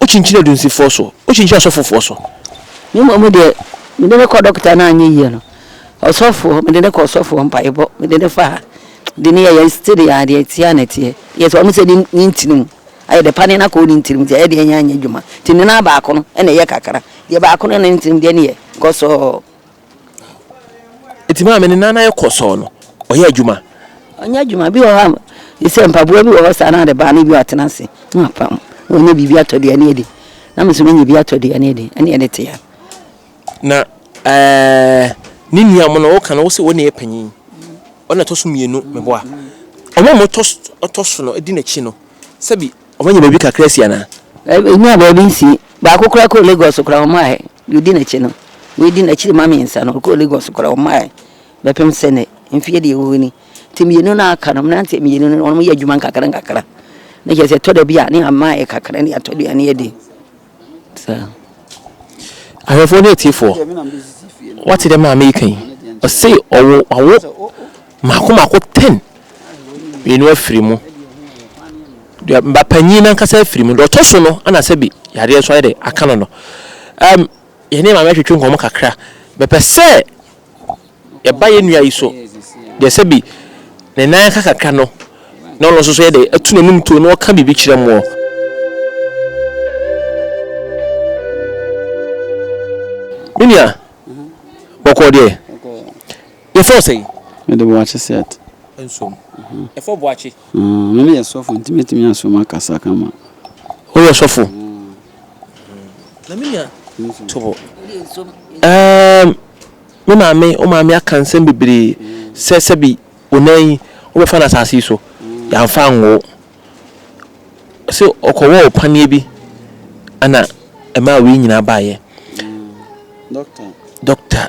Wokyinkyini adunsifoɔ so, wokyinkyini asɔfofoɔ so. Me mmom deɛ, mede no kɔ dɔkota no anyɛ yie no, ɔsɔfoɔ, mede no kɔ ɔsɔfoɔ, mpaebɔ, mede no fa, de no yɛ yɛn study a, deɛ ɛteɛ a na ɛteɛ. Yɛ sɛ wɔn sɛ ne, ne ntini mu, ayɛ dɛ pa ne no akɔ ne ntini mu, nti ɛyɛ deɛ ɛnyɛ anyɛ adwuma. Nti ne nan baako no na ɛyɛ kakra, deɛ baako no ne ntini mu deɛ ne yɛ, kɔ sɔɔ. Nti maame ne nan ayɛ kɔsɔɔ no, ɔyɛ adwuma? Ɔnyɛ adwuma. Bi wɔ hɔ a, sɛ mpaboa bi wɔ hɔ saa na ade baa no bi watena ase na wapam. Na ɔnya biribi atɔ aduane adi. Na me nso menya bi atɔ aduane adi. Ɛne ɛde te a. Na ɛɛ ne nua mo no woka no wo se wo na yɛ panyin. Ɔna ɛtɔ so mmienu meboa. Wɔn a wɔtɔ ɔtɔ so no di n'akyi no sɛbi wɔanya baabi kakra asi anaa? Ɛnya baabi nsi. Baako koraa kɔɔ Lagos koraa wɔn ayɛ. Deɛ ɔdi n'akyi no, wei di n'akyiri ma mmiɛnsa no, ɔkɔɔ Lagos koraa ɔmmaeɛ bɛpem sɛ nnɛ mfeɛ deɛ ɛwɔ hɔ ni. Nti mmienu no a aka no, mmeranteɛ mmienu no wɔyɛ adwuma nkakra nkakra, na kyerɛ sɛ ɛtɔ da bi a ne amaeɛ kakra ne atɔ aduane adi. Saa. Ahwɛfoɔ ne atiefoɔ, woate deɛ maame yi ka yi? Ɔse ɔwo, wawo. Mako mako ten, mmienu afiri mu, deɛ ba panyin nankasa afiri mu, deɛ ɔtɔ so no ɛna sɛbi yadeɛ nso ayɛ dɛ aka no no. Ɛm yɛn ne maame atwetwe nkɔmɔ kakra, mepɛ sɛ yɛba yɛn nua yi so, deɛ sɛbi ne nan aka kakra no na ɔno nso so yɛ dɛ atu n'anum tuo na ɔka biribi kyerɛ moɔ. Me nua, bɔkɔɔ deɛ? Yɛfrɛ wo sɛn? Me de Boakye Seth. Nsom. Yɛfrɛ Boakye. Ah, me ne yɛ sɔfo nti mɛtumi asom akasa kama. Woyɛ sɔfo? Na me nua to hɔ. Ɛɛm, me maame, wo maame aka nsɛm bebree sɛ sɛbi wo nan yi wobɛfa no asase yi so, yɛamfa anwo wo. Ɔse ɔkɔwɔɔ paneɛ bi ɛna ɛmaa wei nyinaa baeɛ. Doctor. Doctor.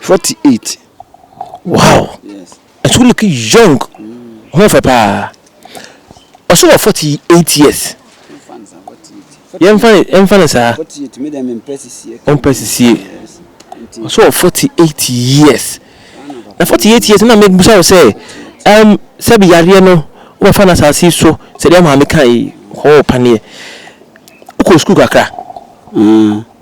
Forty eight. Wow! Yes. And so looking young. Ho fɛ paa. Ɔso wɔ forty eight years. Yɛmfa no saa. Ɔmpɛ sisie. Ɔso wɔ forty eight years. Na forty eight years na mebusa wo sɛ ɛm sɛbi yareɛ no wɔfa no asase so sɛdeɛ maame ka yi hɔ paneɛ. Wokɔ sukuu kakra. Mm.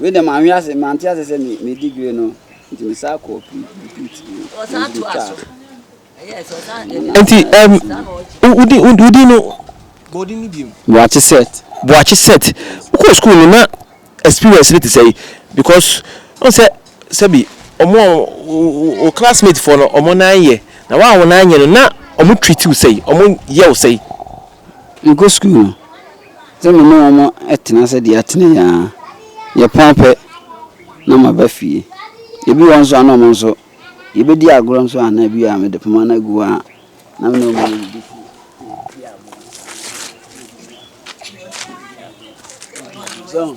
Wei deɛ manhwe ase, mante ase sɛ me, me degree no nti me saa kɔɔ repeat nti ɛm wodi wodi no bɔdi no bi mu. buakye set buakye set wokɔ school no na experience no te sɛ because ɔn sɛ sɛbi ɔmo wo classmate foɔ no ɔmo nan yɛ na wa a wo nan nyɛ no na ɔmo treat wo sɛ ɔmo yɛ wo sɛ. mekɔ school no. Sɛ me ne wɔn tena ase de atena yi ara, yɛpɔn pɛ na maba fie. Ebi wɔ hɔ nso a na wɔn nso, yɛbɛdi agorɔ nso a na bi a mede poma no agu hɔ a na me ne wɔn adidi fie. So.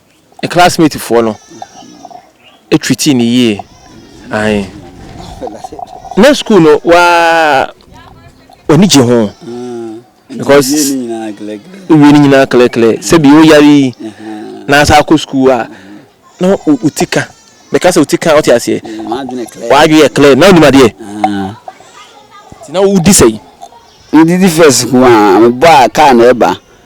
Ne classmate foɔ no treatii no yie ae na school no waa w'ani gye ho because wowie no nyinaa klɛklɛ sɛbi woyare yi na asa akɔ school a na woti ka mɛka sɛ woti ka wote aseɛ w'adwe yɛ klɛ na wonim adeɛ nti na wodi sɛi medidi first ko a mebɔ a kaa na ɛba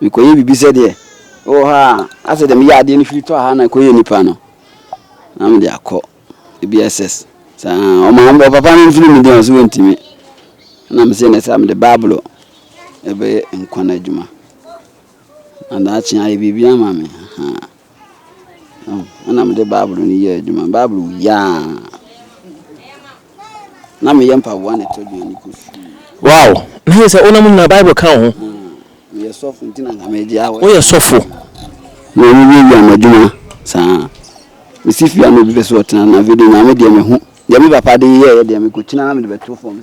Mekɔyɛ biribi sɛdeɛ wowɔ hɔ a, asɛ deɛ meyɛ adeɛ no firi tɔ ha na ɛkɔyɛ nipa no, na mede akɔ ebi SS. Saa ɔma ɔpapa no mfiri me din ɔsɛ wɔntumi. Na mesɛ ne saa mede Bible ɛbɛyɛ nkwa no adwuma. Na daakye ayɛ biribi ama me. Ɛna mede Bible no yɛɛ adwuma. Bible wui ara na meyɛ mpaboa na ɛtɔ aduane kɔ sukuu. Wow! Na yɛ sɛ wonam nyina Bible ka wo ho. Meyɛ sɔfo nti na nka megye awɔ. Woyɛ sɔfo. Na wowie wie ama adwuma saa. Mesi fie a na obi pɛ sɛ ɔtena na afei deɛ nyame deɛ mehu. Deɛ me papa de yɛɛ deɛ mekɔkyina na mede bɛto fam.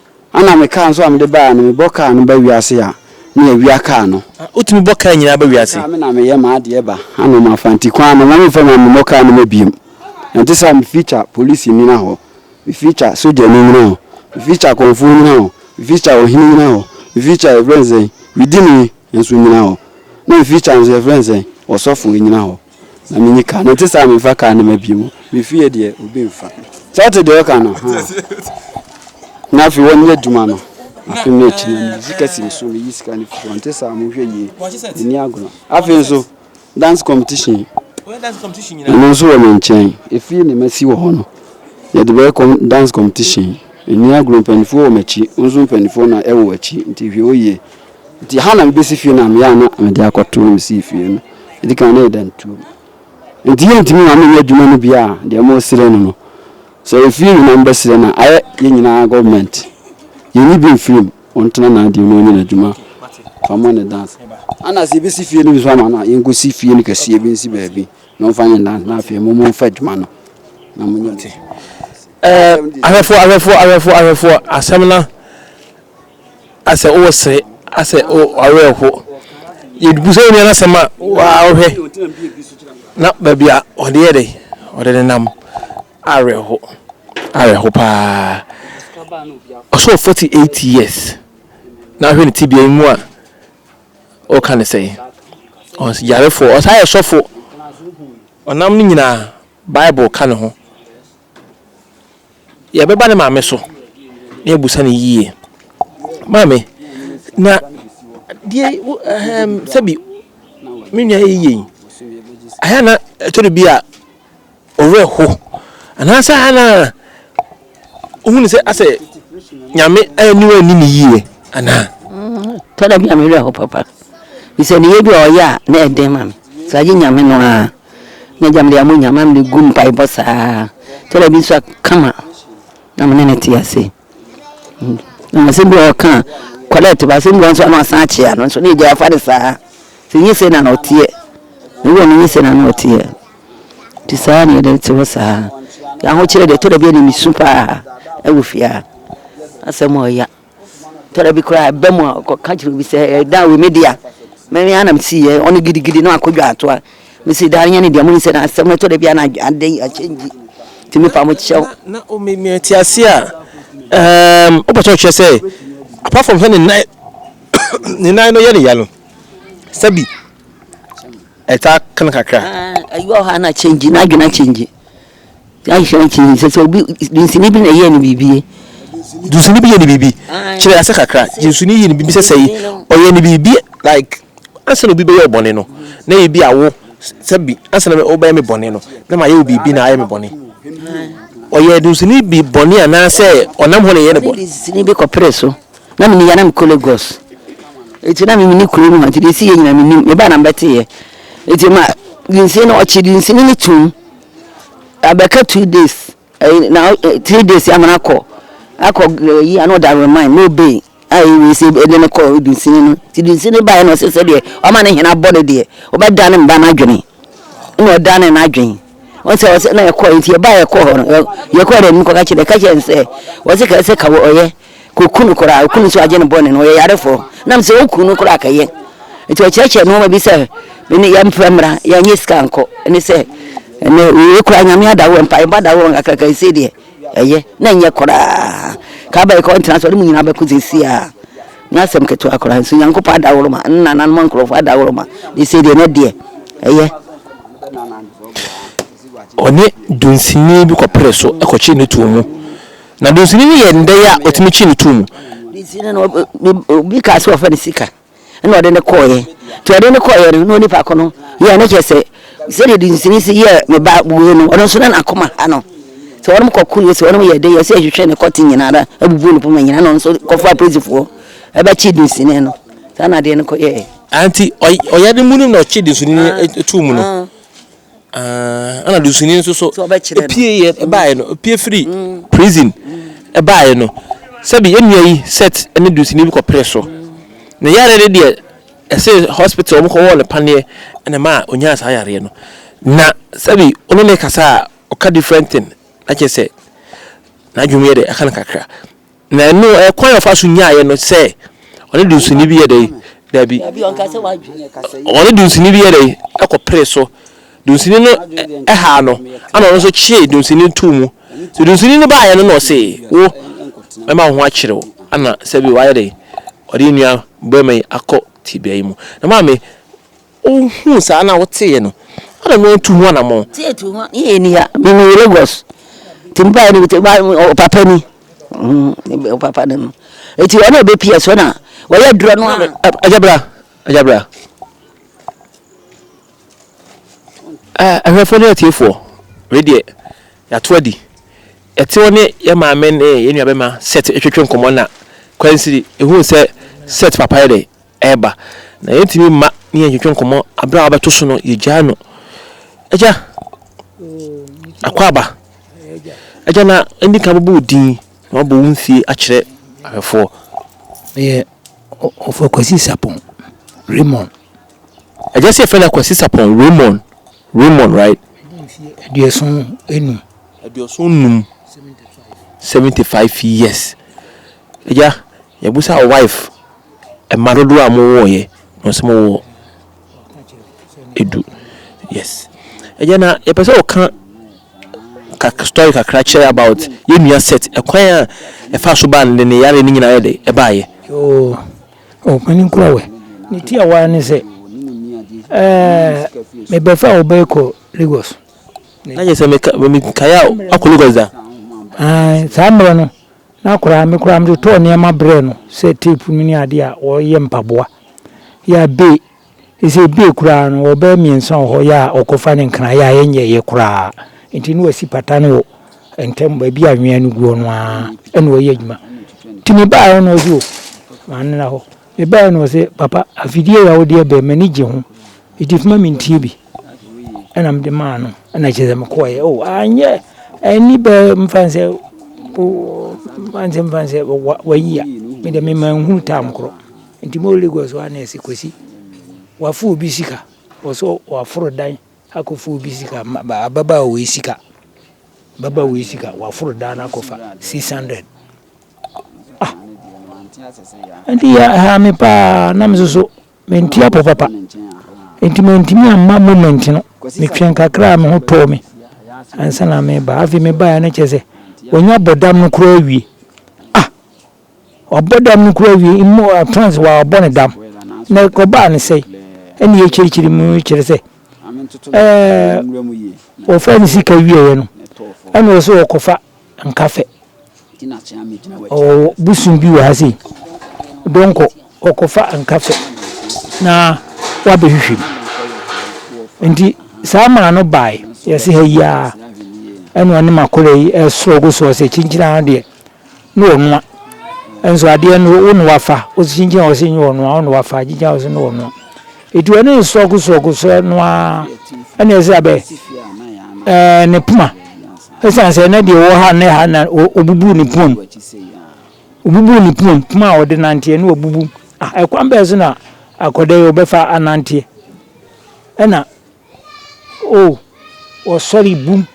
Ana me car nso a mede baeɛ no mebɔ car no ba wiase a na yɛawia car no. Ah wotumi bɔ car nyinaa ba wiase? Car me na meyɛ m'adeɛ ba ana mafa nti kwan no mma memfa ma memmɔ car no ma biom. Ɛnte saa me feature polisi nyina hɔ, me feature sogyani nyina hɔ, me feature kɔmfoɔ nyina hɔ, me feature ɔhene nyina hɔ, me feature yɛfrɛ no sɛn, medini nso nyina hɔ, na me feature nso yɛfrɛ no sɛn, ɔsɔfoɔ nyina hɔ. na menyi kaa no ɛnte saa memfa kaa no ma bio mefie deɛ obi mfa sɛ wote deɛ ɔka no ha na afei wɔnyɛ adwuma no afei no akyi no mesi kasi me so meyi sika no firi ɔnte saa mohwɛ yie ɛni agorɔ afei nso dance competition ɛno nso wɔ me nkyɛn ɛfie ne masi wɔ hɔ no yɛde bɛyɛ dance competition ɛni agorɔ mpanimfoɔ wɔ m'akyi nso mpanimfoɔ na ɛwɔ akyi nti hwɛ wo yie Nti ha na mebɛsi fie na meyɛ a na mede akɔto na mesii fie no ɛdi kan na yɛ dan tuo nti yɛ ntumi ma menyɛ adwuma no bia a deɛ mo srɛ no no sɛ ɛfie nyinaa mbɛsrɛ no ayɛ yɛ nyinaa government yɛnyi bi mfiri mu ɔntena na adeɛ no ɔnyɛ n'adwuma fa mo ne dance ana sɛ yɛbɛsi fie no bi so ama no a yɛnkɔsi fie no kɛseɛ bi nsi baabi na ɔmfa nyɛ dance na afei mo mo mfa adwuma no na mo nyɛ ahwɛfoɔ ahwɛfoɔ ahwɛfoɔ ahwɛfoɔ asɛm no Asɛ wo wɔ sere, asɛ wo awerɛ ho. Yɛbu sɛ onua no asɛm a, waa wohwɛ na baabi a ɔde yɛ dɛ, ɔde nenam awerɛ ho, awerɛ ho paa. Ɔso wɔ forty eight years na ahwɛ ne tibea yi mu a, ɔka ne sɛn? Ɔnso yarefoɔ, ɔsan yɛ sɔfo. Ɔnam ne nyinaa, Bible ka ne ho. Yɛbɛba ne maame so na yɛabusa no yie. Maame, na deɛ wo ɛhɛm sɛbi me nua yi yɛ yi, ɛyɛ na ɛtɔ da bi a ɔwerɛ ho anaasɛ ɛyɛ na wohu no sɛ asɛ nyame aniwa nni ne yie anaa? Tɔ da bi a me werɛ ho papa. Bisɛ ne yɛ bi a ɔyɛ a na ɛden ma me. Sɛ agye nyame no ara. M'agya mede ama Nyame, mede gu mpaebɔ saa kyɛ da bi nso a kama na me ne no te ase. Na asɛm bi a ɔka a correct ba asɛm bi nso na ɔsan akyea no nso na agya afa no saa. Sɛ nyɛ sei na na ɔteɛ. Ne wɔ no nyɛ sei na na ɔteɛ. Nti saa na yɛde te hɔ saa. Yɛahokyerɛ deɛ ɛtɔ da bi a na mesu paa ɛwɔ fie ha. Asɛm a ɔya. Tɛrɛ bi koraa ɛba mu a ɔkɔ ka kyerɛ obi sɛ ɛɛ dan wei me dea me me ara na me si yɛ ɔno gidigidi na wakɔ dwa ato a me si dan nyɛ ne dea mo nsɛ na asɛm ɛtɔ da bi a na adan yi akyɛ ngyi ti me pa mo kyɛw. Na o me me ti ase a ɛɛm o pɛtɛ ɔkyerɛ sɛ apart from sɛ ne nan ne nan no yɛ ne ya no sɛ bi ɛta kan kakra. Ɛɛ ɛyɛ ɔha na kyɛ ngyi na adwene akyɛ ngyi Yɛanhwɛ ankyi no, sɛ sɛ obi, dunsini bi na ɛyɛɛ no biribi. Dunsini bi yɛ no biribi. Kyerɛ ase kakra. Dunsini yɛ no biribi sɛ sɛ ɔyɛ no biribi like ansa na obi bɛyɛ ɔbɔne no, na ebi a wo sɛ bi ansa na wobɛyɛ me bɔne no, na mayɛ wo biribi na ayɛ me bɔne. Ɔyɛ dunsini bi bɔne anaasɛ ɔnam hɔ na ɛyɛ no bɔne. Dunsini bi kɔpere so. Na mene yɛ na mekɔ Lagos. Eti na mene kuro no hɔ nti deɛ ɛsi yɛ nyina menim. Mebaa na mebɛteeɛ. Eti ma dunsini no, ɔkye dunsini no tom. Abɛka two days ɛyi na eh, three days ama no akɔ akɔ ɛyi ana ɔda remind ma obey a ɛwei sɛ ɛde no kɔ dunsini no nti dunsini baeɛ na ɔsɛ sɛ deɛ ɔma ne hena bɔ no deɛ ɔbɛda ne mba no adwene na ɔda ne n'adwene wọn sɛ ɔsɛ na ɛkɔ nti ɛba ɛkɔ hɔ no yɛkɔ dɛ mu kɔka kyerɛ ka kyerɛ nsɛ wɔsɛ ka ɛsɛ ka wɔ ɔyɛ Koku no koraa, oku no nso agye no bɔne no, ɔyɛ yarefoɔ. Nam sɛ oku no koraa kɛyɛ. Nti ɔkyerɛkyerɛ nnoɔma bi sɛ, mene yɛmfrɛ mmra, yɛnyɛ sika nkɔ. Ɛne sɛ, ɛnɛ wei koraa nyame ada hɔ, mpaebɔ ada hɔ, nkakraka ɛsei deɛ ɛyɛ, na ɛnyɛ koraa. Kaaba yi kɔ ntena so, ɔde mu nyinaa bɛko sɛsi a. Nyɛ asɛm ketewa koraa, nso Nyankopɔn ada hɔ ma, ne nananom nkurɔfoɔ ada hɔ ma, na ɛsei deɛ ɛnɛ deɛ ɛyɛ. Ɔne dunsini bi kɔpere so kɔkyee no too mu. Na dunsini no yɛ nnɛyi a otumi kyi no tu mu. Dunsini no, obi kaa sɛ ɔfa no sika na ɔde no kɔeɛ. Nti ɔde no kɔeɛ no, na onipa ko no yɛɛ no kyerɛ sɛ, sɛdeɛ dunsini si yɛɛ me ba wei no, ɔno nso na n'akoma ha no. Nti wɔnom kɔko no, wɔnom yɛɛ dɛn, yɛɛ sɛ yɛhwehwɛ ne kɔte nyinaa ara, abubu ne poma nyinaa, na ɔno nso kɔfaa polisifoɔ bɛkyee dunsini no. Saa na adeɛ no kɔyɛeɛ. Aane, nti ɔyɛ ne mu no na ɔkyee dunsini no too mu no. Ɛna dusuni nso so pie baeɛ no pie firi mm. prison baeɛ no sɛbi yɛn nua yi set ne dusuni bi kɔ pere so na yare no deɛ ɛsɛ hospital wɔn kɔwɔ ne paneɛ ɛna maa onyaa saa yareɛ no na sɛbi ɔno ne kasa a ɔka different thing na kyerɛ sɛ n'adwuma yɛ dɛ ɛka no kakra. Na ɛno ɛ, kwan a ɔfa so nyaeɛ no sɛ ɔne dunsini bi yɛ dɛ? Dabi. Ɔne dunsini bi yɛ dɛ? Ɛkɔpere so. Dunsini no haa no, ɛna ɔno nso kyee dunsini no too mu. So dunsini no baeɛ no na ɔse, Wo, mɛma wo ho akyere wo. Ɛna sɛbi wayɛ dɛ? Ɔde nnuan bɔe ma yi akɔ tebea yi mu. Na maame. Ohuu saa na ɔteeɛ no, adɛn na wantu ho anammɔn? Tie tu ho, ne yɛ ni ha, me me Lagos, ti nipa yɛ ni, ma ɔpapa ni, mm ɔpapa ni no, eti ɔna ebe pia so na wɔyɛ duro no ano. Agya bra, agya bra. Ahwɛfoɔ ne atiefoɔ, wei deɛ yɛato adi. Yɛte hɔ ne yɛn maame ne yɛn nuabɛma Seth retwetwe nkɔmmɔ na Kwansiri huu sɛ Seth papa yɛ dɛ. ɛreba, na yɛntumi mma ne yɛntwetwe nkɔmmɔ berɛ a wabɛto so no, yɛgyaa no. Agya, akwaaba, agya na ɛndi kan bɛbɔ wo din na wabɔ wo mfie akyerɛ ahwɛfoɔ. Ɛyɛ ɔfɔ Kwasi Sapɔn Raymond. Agya sɛ yɛfrɛ no Kwasi Sapɔn Raymond, Raymond right? Aduoson enum. Aduoson num. Seventy five years. Agya, yɛbusa wife. Mma dodoɔ a mowoeɛ na ɔsɛ mowɔ edu yes ɛyɛ na yɛpɛ sɛ ɔka kak story kakra kyerɛ about yɛn nua set ɛkwan a ɛfa so baa ne ne yare ne nyinaa yɛ de ɛbaayɛ. yoo ɔpanin kura wɛ ne ti a waa ne sɛ ɛɛ mebɛfa a ɔbɛyɛ kɔ lagos. na yɛ sɛ meka mekae a akɔ lagos da. saa mmerɛ no Na koraa me koraa mede tɔɔ nneɛma brɛɛ no sɛ tape no ne adeɛ a wɔyɛ mpaboa yɛ a be ɛsɛ ɛbee koraa no wɔ bɛyɛ mmiɛnsa wɔ hɔ yɛ a ɔkɔfa ne nkran yɛ a ɛnyɛeɛ koraa nti na wasi pata no wɔ ntam baabi a anwea no guo no ara ɛna ɔyɛ adwuma nti mebaa hɔ na ɔse o manena hɔ mebaa hɔ na ɔse papa afidie yɛ a wodeɛ bɛn m'ani gye ho nti fma mentie bi Ɛna mede maa no ɛna kyerɛ sɛ mekɔɔeɛ o anyɛ ɛni bɛ mfa sɛ ansɛ mfa sɛ wayi a mede mema nhunu tam korɔ nti mo Lagos hɔ ana ɛsɛ kwasi wafo obi sika wɔsɛ waforo dan akɔfo obi sika ababa a wɔyi sika baba wɔyi sika waforo dan akɔfa 600 ah ɛnti yɛ ha me paa na me soso Mente apɔ papa, enti mantumi amma moment no. Metwɛn kakra a me ho tɔɔ me ansa na meba. Afei mebaeɛ no kyerɛ sɛ wanya bɔ dam no koraa awie. Ah! Wabɔ dam no koraa awie, in more advance wabɔ ne dam. Na ɛkɔbaa no sɛn? Ɛnna yɛkyirikyiri mu kyerɛ sɛ ɛɛ wɔfaa ne sika wieeɛ no, ɛnna ɔsɛ ɔkɔfa nka fɛ. Ɔwɔ bosom bi wɔ ha sei. Donkɔ, ɔkɔfa nka fɛ na wabɛhwehwɛ mu. Nti saa maa no bae, yɛse ha yi ara. Ɛna ɔne m'akɔla yi ɛsrɔgo soɔ sɛ kyinkyin ara deɛ ne wɔnoa. Nso adeɛ no wo ne wafa, wo se kyinkyin a ɔse nyɛ wɔnoa, wo ne wafa, kyinkyin a ɔse ne wɔnoa. Etua ne nsɔgosɔgosɔɛ no ara, ɛna ɛsɛ sɛ abɛ ɛɛ ne poma. Ɛsiane sɛ na deɛ ɔwɔ ha ne ha na ɔbubu ne pomam. Ɔbubu ne pomam, poma a ɔde nanteɛ na wabubu. Ah, ɛkwan bɛɛ so na akɔda yi ɔbɛfa ananteɛ. Ɛna, o, oh, ɔsɔre bum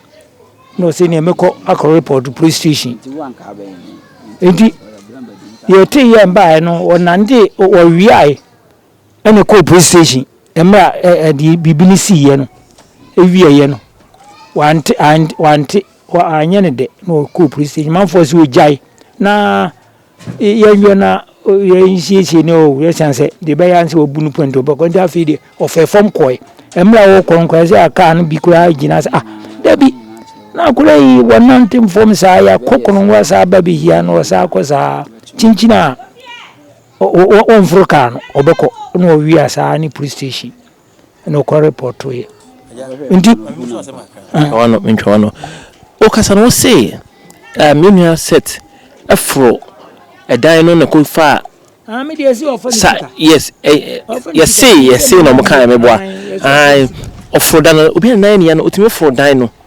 na ɔsɛ neɛ mekɔ akɔ report police station. Enti, yɛte yɛn baeɛ no, ɔnante, ɔwiae. Ɛna ɛkɔɔ police station mmerɛ a ɛ ɛ deɛ biribi no siiɛ no ɛwieɛ no wante ante wante wa anyɛ no dɛ na ɔkɔɔ police station manfoɔ sɛ ɔgyae na e, yɛnwɛ na o, yɛnsiesie ne o yɛsiane sɛ deɛ ɛbɛyɛ ara ne sɛ wabu no pɔ nti ɔbɛkɔ nti afei deɛ ɔfɛɛ fam kɔe mmerɛ a wɔkɔ no koraa sɛ a kaa no bi koraa gyina sɛ ah dabi na akora yi wɔnante mfam saa yɛakɔ kono wasaa ba bɛhia no ɔsaa kɔ saa kyinkyin a Wɔmforo kaa no, ɔbɛkɔ na ɔwie a saa ne police station na ɔkɔ repɔtoeɛ nti mentwa wano wokasa no wose me nua set foro ɛdan no na kɔ faa Ah, me deɛ si ɔfa ne sika. Yes, eh, eh, yɛse yɛse na ɔmo kaa meboa. Ae, ɔforo dan no, obi a nan ne ya no, otumi foro dan no.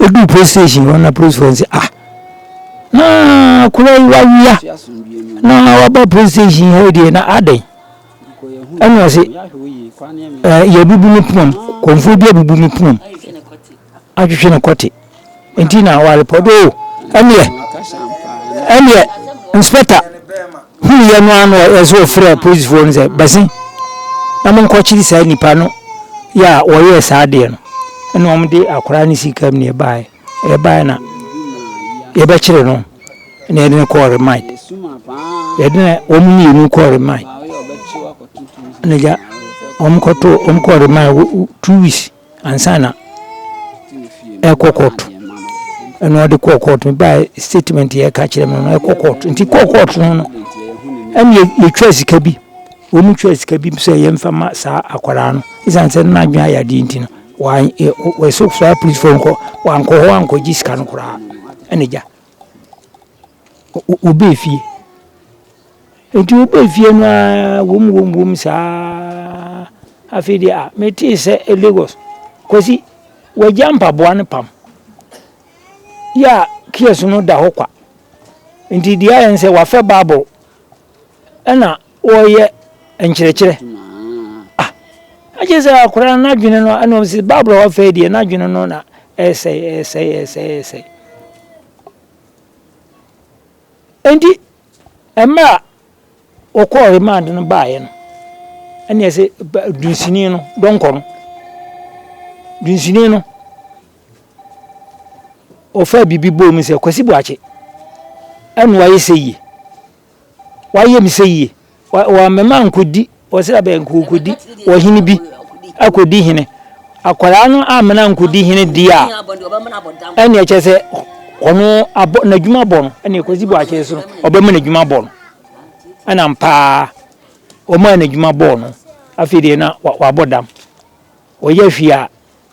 Eduu polisi station hɔ no na polisifo no se, Ah, na akwadaa yi wawea na waba polisi station ha yi deɛ na adɛn? Ɛna ɔse, eh, yɛabubu me pomam, kɔmfoɔ bi abubu me pomam atwetwe no kɔte nti na warepɔt o, ɛneɛ ɛneɛ inspector Huiɛ no ara na ɔsɛ ɔfrɛɛ apolisifoɔ no sɛ, Bɛse na monkɔkyere saa nnipa no yɛ a wɔyɛɛ saa adeɛ no. Ɛna wɔde akwadaa no sii kaa mu na ɛbaeɛ. Ɛbaeɛ na yɛbɛkyere no na yɛde no kɔɔ remand. Yɛde no wɔn mmienu kɔɔ remand. Ɛna gya wɔn kɔtoo wɔn kɔɔ remand two weeks. ansa na ɛkɔ court ɛna ɔde kɔɔ court no baa statement yɛ ka kyerɛ me no ɛkɔ court nti kɔɔ court no no ɛna yɛtwa sika bi wɔn twa sika bi sɛ yɛmfa ma saa akwadaa no ɛsiane sɛ no n'adwene ayɛ adeɛ nti no wɔso saa polisifoɔ nkɔ wankɔ hɔ ankɔgye sika no koraa ɛna gya Wɔbaa fie. Enti wɔbaa fie no ara wom wom wom saa ara, afei deɛ a metee sɛ Lagos, Kwasi, wagya mpaboa no pam. Yɛ a kiosk no da hɔ kwa. Enti deɛ ayɛ ne sɛ wafɛ bubble, ɛnna Wɔyɛ nkyerɛkyerɛ ah agye sɛ akwadaa no n'adwene no ɛna wɔn sɛ baabura hɔ afei deɛ n'adwene no na ɛsɛe ɛsɛe ɛsɛe ɛsɛe nti mmerɛ a wɔkɔɔ remand no baeɛ no ɛne ɛsɛ dunsini no dɔnkɔ no dunsini no ɔfaa biribi bɔɔ mu sɛ kwasi boakye ɛna wayɛ sɛ yie Wayɛ me sɛyie. Wama me ankɔdi, ɔsra bɛn nka ɔkɔdi ɔhene bi akɔdi hene. Akwadaa no amena ankɔdi hene deɛ a, ɛnneɛ kyɛ sɛ ɔno abɔ n'adwuma bɔ no, ɛnneɛ Kwasi Boakye so no, ɔbɛma n'adwuma bɔ no. Ɛnam paa, ɔmaa n'adwuma bɔɔ no. Afei deɛ na wabɔ dam. Ɔyɛ hwee a,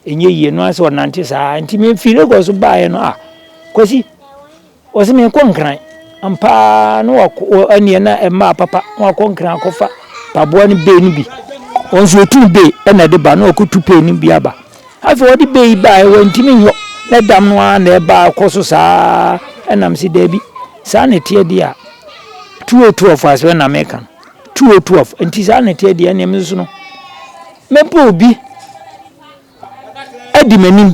ɛnyɛ yie. Ɛno ara ne sɛ ɔnante saa ara. Nti me firi Lagos baeɛ no, ah, Kwasi, ɔse menkɔ Nkran. Ampa ara na wakɔ, wɔ, ɛneɛ na ɛmaa papa, na wakɔ Nkran akɔfa paboa no bee no bi. Ɔno nso ɔtuu bee ɛna ɛde ba, na wakɔtu pee no bi aba. Afei ɔde bee yi baeɛ, wantumi nyɔ, na ɛdam no ara na ɛba akɔ so saa ara. Ɛna mese daabi, saa na ɛteɛ deɛ a, 2012 asɛm na meka no, 2012, nti saa na ɛteɛ deɛ a, ɛneɛ me nso no, Mɛbɔ obi adi m'anim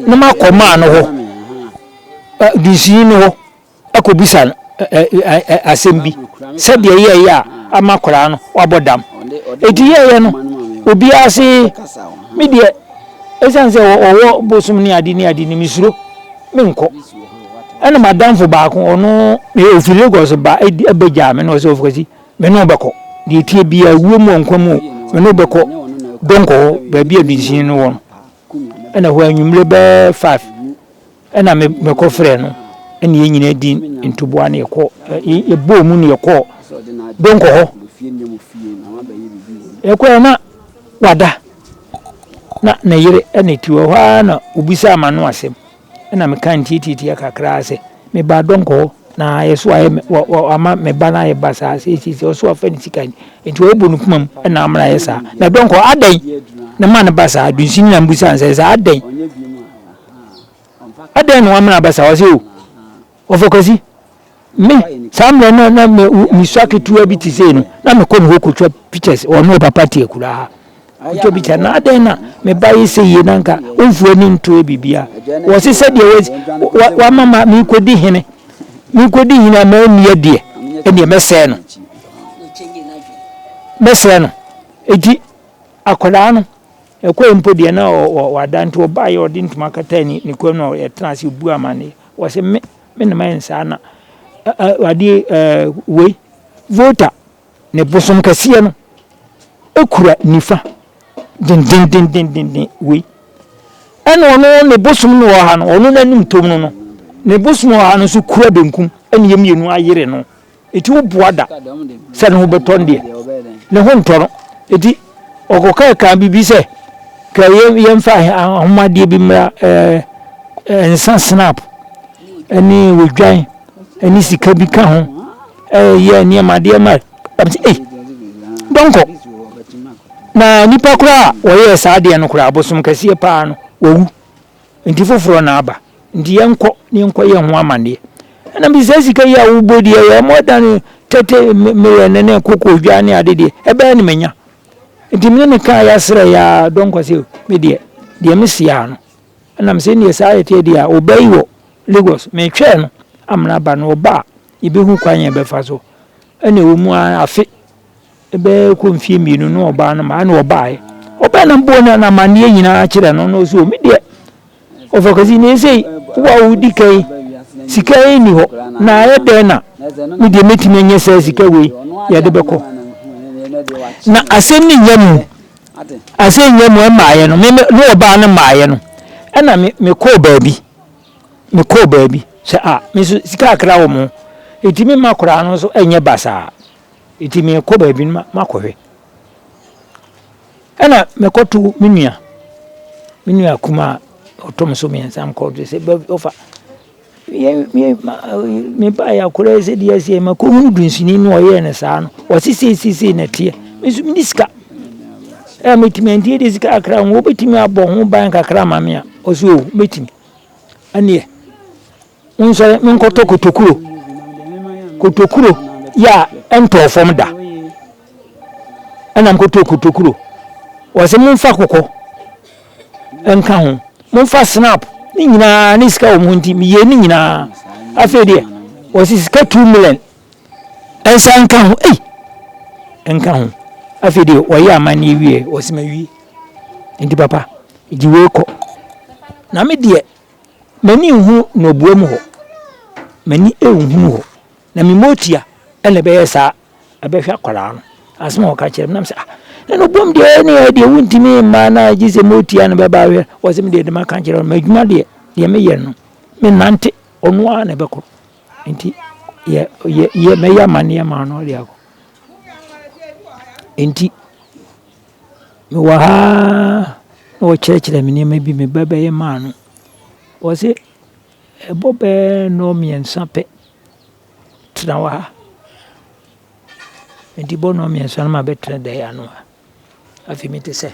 na makɔ maa no hɔ, dunsini no hɔ akɔbisa no asɛm bi sɛdeɛ yɛɛyɛ a ama koraa no wabɔ dam. Ɛti yɛɛyɛ no obiara se me deɛ ɛsiane sɛ ɔwɔ bosom ne ade ne ade no mesuro menkɔ. Ɛna madamfo baako ɔno ɔfi Lagos ba ɛbɛgyaa me na ɔsɛ ɔfɔkasi Me ne wo bɛkɔ, deɛ ɛteɛ biara, wuo mu o, nkwa mu o, me ne wo bɛkɔ Donkor hɔ, baabi a dunsini no wɔ no. Ɛna hɔ anwummerɛ bɛɛ five, ɛna me, mekɔ frɛɛ no, ɛna yɛn nyinaa di ntoboa na yɛkɔ, ɛ, yɛbɔɔ mu na yɛkɔɔ Donkor hɔ. Yɛkɔɛ na wada, na ne yere na ɛte hɔ, ɛhɔ ara na ɔbisaa m'ano asɛm. Ɛna me kaa ntiatiatia kakraa sɛ, Me baa dɔnkɔ hɔ, na ɛso ayɛ me, wa, wa, wama me ba no ayɛ basaa seiseiseɛ, ɔso afa ne sika ni, enti wabu no kumam, ɛna amena ayɛ saa. Na dɔnkɔ, adɛn na ɛma no ba saa? Dunsin na mbusaa no sɛ, Sɛ adɛn? Adɛn na wamena aba saa? Ɔse, Oh, Ɔfo Kwasi, Me, saa mmerɛ no na me mesua ketewa bi te sei no, na mekɔ ne hɔ kɔtwa pictures, ɔne ɔpapa te akuraa kɔtwa picture, na adɛn na me ba yɛ sei yie na nka ɔmfiri ani ntoɛ biribiara. Wɔ se sɛdeɛ wa, wa, wama ma mekɔdi hene, mekɔdi hene a manni adeɛ, ɛnneɛ mɛsɛe no. Mɛsɛe no. Enti akwadaa no, ɛkɔɛ mpo deɛ na ɔ, ɔ, wada nti ɔbaeɛ ɔde ntoma kataa ne, ne kɔn mu na ɔtena ase ɔbu amanneɛ. Wɔse me me na mayɛ no saa na ɛɛ adeɛ ɛɛ wei voter ne bosom kɛseɛ no kura nifa dendendendenden wei ɛna ɔno ne bosom no wɔ ha no ɔno n'anim tom no no ne bosom wɔ ha no nso kura benkum ɛna yɛ mmienu ayere no. Enti woboa da sɛ ne ho bɛtɔ no deɛ, ne ho ntɔ no. Enti ɔkɔkaa kaa biribi sɛ, ka yɛmfa ahomadeɛ bi mmra, ɛɛ nsa snap, ɛne odwan, ɛne sika bi ka ho, ɛyɛ nneɛma adeɛ ma. Ɛm sɛ, ei, dɔnkɔ. Na nipa koraa a wɔyɛɛ saa adeɛ no koraa, abosom kɛseɛ paa no, wawu. Nti foforɔ na aba, nti yɛnkɔ na yɛnkɔ yɛ ho amaneɛ. Ɛna me saa sika yi a wobɔ di ɛyɛ more than thirty million ne koko dwa ne ade deɛ ɛbɛyɛ na menya. Nti me ne no kaa ya srɛ ya dɔnkɔ sɛ me deɛ deɛ me se ya no ɛna me se neɛ saa ɛteɛ deɛ a ɔbaa yi wɔ Lagos me twɛɛ no amena aba no ɔba a yɛbɛhu kwan yɛbɛfa so ɛna ɛwɔ mu ara afe Bɛyɛ kɔ mfie mmienu no ɔbaa no maa na ɔbaeɛ. Ɔbaa na mbɔɔ no amanneɛ nyinaa kyerɛ no na ɔsi o me deɛ ɔfɔkɛse na esei wo a wodi ka yi sika yi nni hɔ na ayɛ dɛn na me deɛ mɛtumi anya saa sika wei yɛde bɛkɔ. Na asɛm no nnya mu asɛm nnya mu ɛmaaeɛ no me me ne ɔbaa no maaeɛ no ɛna me mekɔɔ baabi mekɔɔ baabi sɛ a me nso sika akra wɔ mo enti me mma akwadaa no nso nyɛ basaa. Enti merekɔ baabi no makɔhwɛ. Ɛna mekɔto me nua, me nua kumaa ɔtɔ me so mmiɛnsa mekɔ de sɛ ɔfa mebaeɛ a koraa sɛ deɛ ɛsɛ makɔhunu dunsini no ɔyɛɛ no saa no ɔse seisesei na ɛteɛ me nso mene sika ɛ mɛtumi ɛnti de sika kakra ho wobɛtumi abɔ ho ban kakra ma me a ɔse o mɛtumi ɛneɛ Monsɔre menkɔtɔ kotokuro, kotokuro yɛ a ɛntɔɔ fam da. Ɛna mekɔtɔɔ kotokuro. Wɔse momfa kɔkɔ nka ho, momfa snap ne nyinaa ne sika wɔm ho nti meyɛ ne nyinaa. Afei deɛ wɔse sika two million nsa nka ho ei nka ho. Afei deɛ wɔyɛ amanneɛ wie wɔse mawie. Nti papa gye wei kɔ na me deɛ M'ani nhu nnɔboa mu hɔ, m'ani nhunu hɔ. Na me motia na ɛbɛyɛ saa ɛbɛhwɛ akwadaa no. Asɛm a ɔka kyerɛ me nam sɛ ah na no bom deɛ ɛne yɛ deɛ wontumi mma na gye sɛ motia na bɛba ahwɛ. Wɔ sɛ me deɛ dɛm aka kyerɛ no m'adwuma deɛ deɛ meyɛ no menante ɔno ara na ɛbɛkɔ. Nti yɛ yɛ yɛ mɛyɛ amaneɛ maa no ɔde akɔ. Nti Mewɔ ha na ɔrekyerɛkyerɛ me nneɛma bi, me ba bɛyɛ maa no. Ɔse ɛbɔ bɛɛ nnɔ mmiɛnsa pɛ, tena wɔ ha. Nti bɔ nnɔ mmiɛnsa na mabɛtena dan yi ano ha. Afei me te sɛ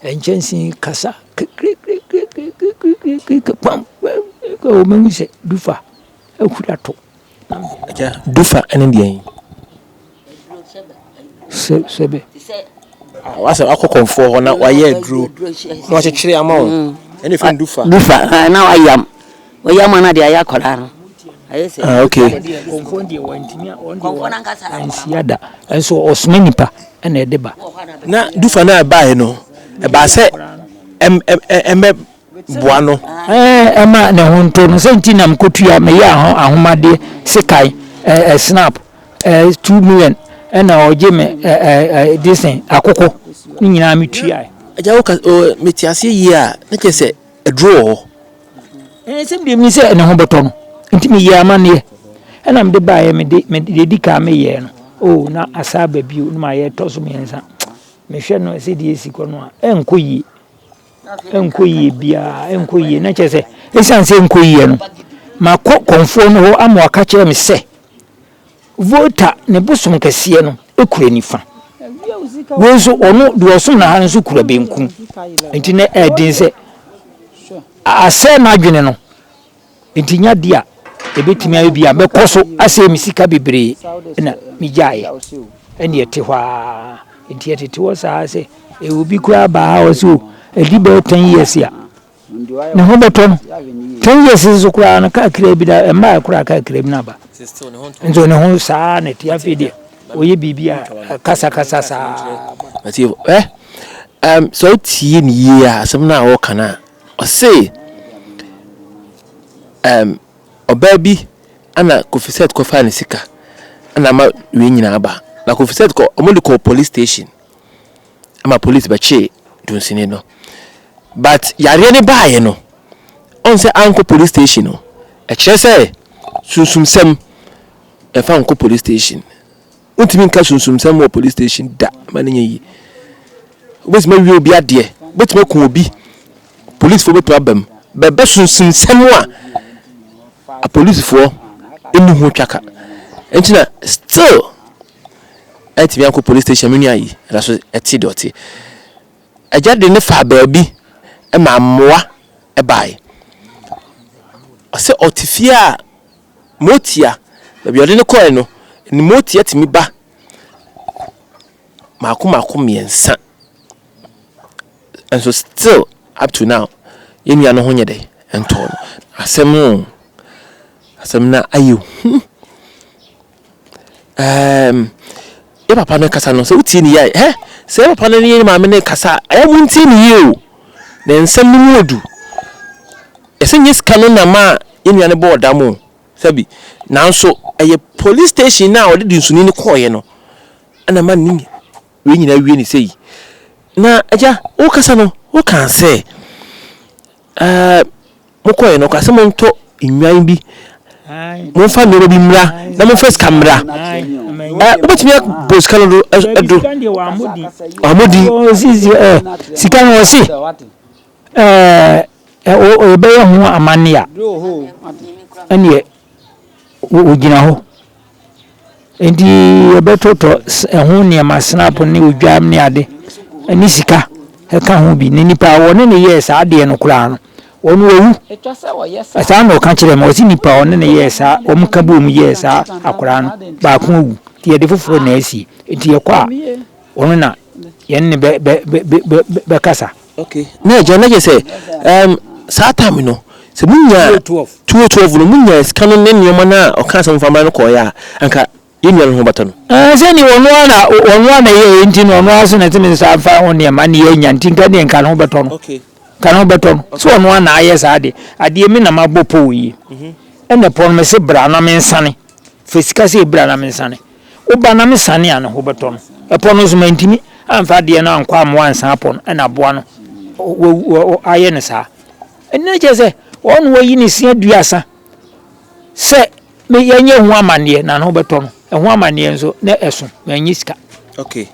nkyɛnse yi kasa kikirikirikiri, kpam kpam kpam, mahu sɛ Dufa ahuri ato. Agya, dufa ne deɛn? Sɛbɛ. Wasɛ wakɔ kɔnfoɔ hɔ na wayɛ aduro na wakyekyere ama wo. Mm. Ɛne fɛn dufa. Dufa ah, na wayam. Wayam ana de ayɛ akwadaa no. Ayɛ sɛ. Ah, okay. Kɔnfoɔ deɛ wantumi a wɔn deɛ wɔn ansia da. Nso ɔsoma nipa ɛna ɛde ba. Na dufa no a ɛbaeɛ no ɛbaa sɛ ɛm ɛm ɛmɛ boa no. Ɛma ne ho ntɔ no sɛ nti na mekɔtua me yea ho ahomadeɛ sekan snap two million ɛna ɔgye me this thing akoko ne nyinaa metuaɛ. Agya woka mete aseɛ yie a na kyerɛ sɛ aduro wɔ hɔ. Ɛnsɛm deɛ menim sɛ ne ho bɛtɔ no nti meyɛɛ amanneɛ ɛna mede baeɛ mede deɛ ɛdi kan meyɛɛ no oh na asaa aba bio na mayɛ ɛtɔ so mmiɛnsa mehwɛ no sɛdeɛ ɛsi kɔ no a ɛnkɔ yie. ɛnkɔ yie biara, ɛnkɔ yie. Na kyerɛ sɛ, ɛsiane sɛ ɛnkɔ yie no, makɔ kɔmfoɔ no hɔ ama waka kyerɛ me sɛ, Volta ne bosom kɛseɛ no kura nifa. Wei nso, ɔno deɛ ɔsom no ha no nso kura benkum. Nti na ɛyɛ den sɛ asɛe n'adwene no. Enti nya bi a ebetumi ayɛ bi a mɛkɔ so asɛe me sika bebree na migyaeɛ. Ɛnna ɛte hɔ ara. Enti ɛtete hɔ saa sɛ eh, obi koraa ba ha a ɔse o, ɛdi bɛyɛ ten years a ne ho bɛtɔ no. Ten years nso koraa no kaa kira bi na ɛmaa ɛkoraa kaa kira bi no aba. Nso ne ho saa na ɛte afei deɛ ɔyɛ biribi a kasakasa saa. Ɔte hɔ. Eh, um, sɛ wotie ne yie a, asɛm no a wɔka no a, Ɔse ehm ɔbaa bi ɛna Kofisɛt kɔfaa ne sika ɛna ama wei nyinaa aba. Na Kofisɛt kɔ ɔmo de kɔɔ polis station ɛma polis bɛkyee Dunsini no. But yareɛ no baeɛ no ɔn sɛ ankɔ polis station o ɛkyerɛ sɛ sunsumsɛm ɛmfa nkɔ polis station. Wontumi nka sunsumsɛm wɔ police station da, ma no nyɛ yie. Wobɛtumi awie obi adeɛ, wobɛtumi aku obi, polisifoɔ bɛtumi aba mu. Bɛbɛ sunsumsɛm a apolisifoɔ ɛni ho twaka. Ɛnti na still ɛntumi ankɔ police station me nua yi ɛda so ɛte deɛ ɔte. Agya de ne faa baabi ɛma mmoa ɛbae. Ɔsɛ ɔte fie a Motia, baabi a ɔde no kɔe no, ne motia tumi ba mmaako mmaako mmiɛnsa. Nso still up to now, yɛn nua no ho nyɛ dɛ ntɔɔ no. Asɛm o, asɛm no ayɛ hu. Ɛɛm, yɛ papa no kasa no, sɛ wotie ne yie a, hɛ! Sɛ yɛ papa no ne yɛ maame no rekasa a, ɛyɛ a montie ne yie o. Ne nsɛm no mu yɛ du. Yɛse nyɛ sika no na ɛmaa yɛ nua no bɔɔ dam o, sɛbi. Nanso ɛyɛ police station no a ɔde dunsuni no kɔeɛ no na ɛma ne wei nyinaa awie no sei. Na agya, wokasa no, wokaa sɛ. Ɛɛ, mokɔeɛ no, ɔkaa sɛ montɔ nnwan bi, momfa nneɛma bi mmra, na momfa sika mmra. Ɛɛ, wobɛtumi abɔ sika no do ɛdo. Wɔamodi. Sika no ɔse ɛɛ yɛbɛyɛ ho amanne a, ɛneɛ wɔgyina hɔ. Enti yɛbɛtotɔ ɛho nneɛma, snap ne odwam ne ade, ne sika ka ho bi. Na nipa a wɔne no yɛɛ saa adeɛ no koraa no, ɔno wawu. Saa na ɔka kyerɛɛ me, ɔse nipa a ɔne no yɛɛ saa, wɔka boom yɛɛ saa akwadaa no, baako awu, nti yɛde foforɔ na asie. Nti yɛkɔ a, ɔno na yɛne no bɛkasa. Ok na agya na kyerɛ sɛ ɛɛm saa time no sɛ mo nyaa two oh twelve no mo nyaa sika no ne nnoɔma no a ɔkaa sɛ momfa mmra no kɔɔeɛ a anka yɛn nua no ho bɛtɔ no. Ɛɛ sɛ neɛ ɔno ara na ɔno ara na ɛyɛɛyɛ nti no ɔno ara nso na ɛte me nsa mfa ho nneɛma ne yɛ anya nti nka deɛ nka ne ho bɛtɔ no Ok. nka ne ho bɛtɔ no sɛ ɔno ara na ayɛ saa deɛ adeɛ me na mabɔ pɔw yie ɛna pɔw no mese bra na mensane fa sika sei bra na mensane. Wo ba nam asiane a ne ho bɛtɔ no. Ɛpɔ no nso mantumi amfa adeɛ no ankɔ amoa ansan apɔ no ɛna aboa no wawu ayɛ no saa. Ɛno na kyerɛ sɛ ɔno wayi ne se aduasa sɛ yɛnyɛ ho amanneɛ na ne ho bɛtɔ no. Ɛho amanneɛ nso na ɛso manyɛ sika. Okay.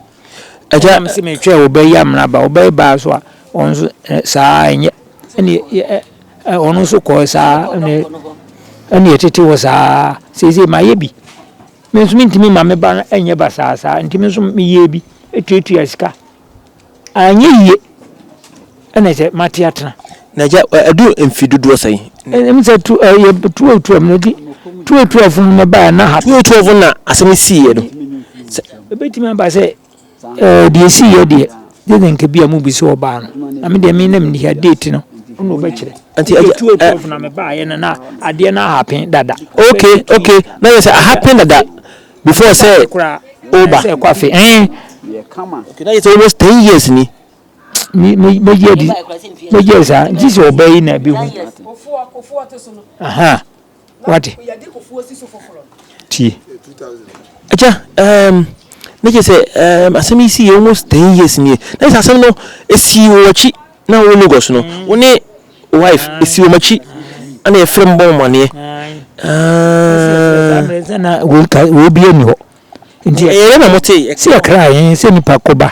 Agya me se metwɛ wo bɛyi amena ba wo bɛyi ba so a ɔno nso saa ɛnyɛ ɛne Ɛ, ɔno nso kɔɔ saa ne, ɛne ɛtete hɔ saa ara. Seesei mayɛ bi. Me nso mentumi mma me ba no nyɛ basaa saa, nti me nso meyɛɛ bi tuatuaa sika. Anyɛ yie, ɛna ɛsɛ mate atena. Na agya, adu mfe dodoɔ sɛn? Ɛm sɛ tu, ɛ, yɛ tuatuaa mu no, nti tuatuaa funu no baeɛ na ha. Tuatuaa funu na asɛm yi siiɛ no. Sɛ. Ɛbɛtumi aba sɛ Ɛɛ, deɛ ɛsiiɛ deɛ, gye sɛ anka ebia mobisa ɔbaa no, na me deɛ me na menni ha, date no ɔno na ɔbɛkyerɛ. Nti ɛgya, ɛɛ. Year 2012 na mebaeɛ no, na adeɛ no ahappen dada. Okay, okay, na kyerɛ sɛ ahappen dada before sɛ Ɛkɔ afe koraa, woba. sɛ ɛkɔ afe, ɛɛn. Okay, na kyerɛ sɛ almost ten years ni. Me, me, mɛgye adi, mɛgye adi saa, gye sɛ ɔbaa yi na ɛbɛhu, ahaa. Wate? Tie. Agya, um, na kyerɛ sɛ, um, asɛm yi sii almost ten years nie. Na kyerɛ sɛ asɛm no, esii wɔ akyi na wo Lagos no, wo ne wife, esii wɔn akyi, ɛna yɛfrɛ mu bɔ wɔn aneɛ. Ah. Wei bie ni hɔ. Nti ɛyɛ na mo te. Sɛ ɛkra yɛn sɛ nipa kɔba.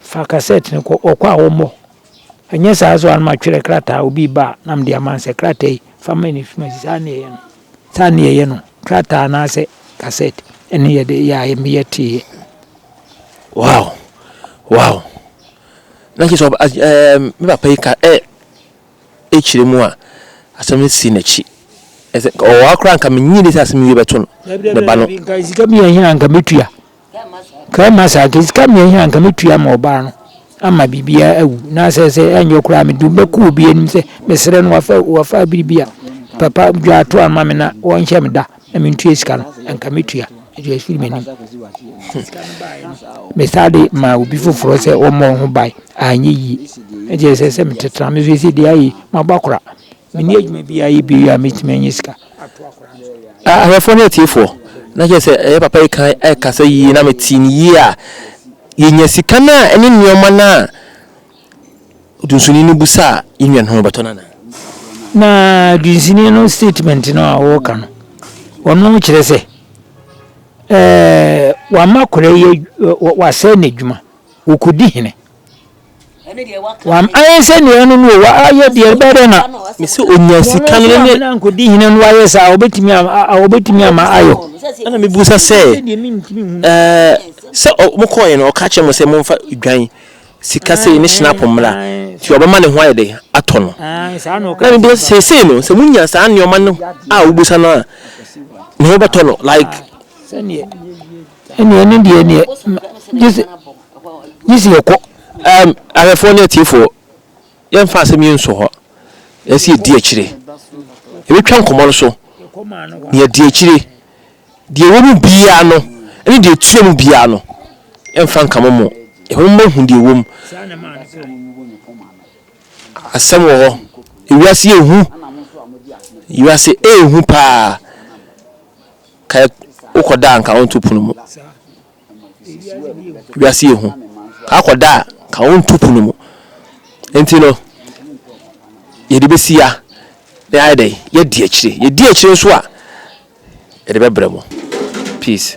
Fa kasɛt no kɔ ɔkɔ a wɔmmɔ. Anyɛ saa nso a na matwerɛ krataa obi reba a na mede ama no sɛ, Krataa yi, fa ma Nifimas. Saa na yɛyɛ no. Saa na yɛyɛ no. Krataa anaasɛ kasɛt ne yɛde yɛ a yɛmmeyɛ teeɛ. Wow! Wow! Na kyerɛ sɛ ɔba- ɛɛ, me papa yi ka ɛ ekyire mu a asɛm no si n'akyi. Ɛsɛ ɔwɔ ha koraa nka menyini sɛ asɛm yi bɛto no Dabi, dabi, ne ba no. dabi, nka sika bi yɛ hia a nka mɛtua. Kɛrima sɛ anka sika mmiɛnsa a anka mɛtua ama ɔbaa no ama biribiara awu na asɛ sɛ ɛnyɛ koraa mede wo bɛkɔ obi anim sɛ mesrɛ no wafa wafa biribi a papa dwaato ama me na wɔnhyɛ me da na mentua sika no anka mɛtua ɛde afiri m'anim mesaa de maa obi foforɔ sɛ ɔmmɔ ho ban anyɛ yie ɛdeɛ sɛ sɛ metetena me so ɛsɛ deɛ ayɛ mabɔ akora menni adwuma biara yɛ bio a mɛtumi anya sika. Ahwɛfoɔ ne atiefoɔ, na kyerɛ sɛ ɛyɛ papa yi kan ɛrekasa yie na metee no yie a, yɛnya sika no a ɛne nneɛma no a ɔdunsini no busaa yɛn nua no ho bɛtɔ no anaa? Na dunsini no statement no a ɔreka no, ɔno kyerɛ sɛ ɛɛ wama akwadaa yi wasɛe n'adwuma, ɔkɔdi hene. W'ayɛ sɛ nea ɛno no o, w'ayɛ deɛ ɛbɛyɛ dɛ na. Mese onya sika no ne. Wɔn a nkodi hene no ayɛ saa, wɔbɛtumi a wɔbɛtumi ama ayɔ. Ɛna mebusa sɛ, ɛɛ sɛ wɔn kɔɔɛ no ɔka kyerɛ mo sɛ momfa dwan sika sei ne hyinapo mmra, nti wɔbɛma ne ho ayɛ dɛ atɔ no. Na mebusa sɛ seesei no sɛ monya saa nneɛma no a wobusa no a, ne ho bɛtɔ no like. Sɛdeɛ ɛne ɛne deɛ neɛ gyese. Gye sɛ yɛkɔ. Um, ahwɛfoɔ ne atiefoɔ, yɛmfa asɛm yi nso hɔ. Ɛsɛ yɛdi akyire. Yɛbɛtwa nkɔmmɔ no so, na yɛadi akyire. Deɛ ɛwɔ mu biara no, ne deɛ ɛtua mu biara no, ɛmfa nka mo mo. Yɛfa mo ma hu deɛ ɛwɔ mu. Asɛm wɔ hɔ. Ewiase yɛ hu. Ewiase ɛyɛ hu paa. Ka wokɔda anka wonto pono mu. Wiase yɛ hu. Akɔ da a, ka wo nto pono mu. Nti no, yɛde bɛsi ya na yɛayɛ dɛ, yɛadi akyire. Yɛdi akyire nso a, yɛde bɛbrɛ mo. Peace.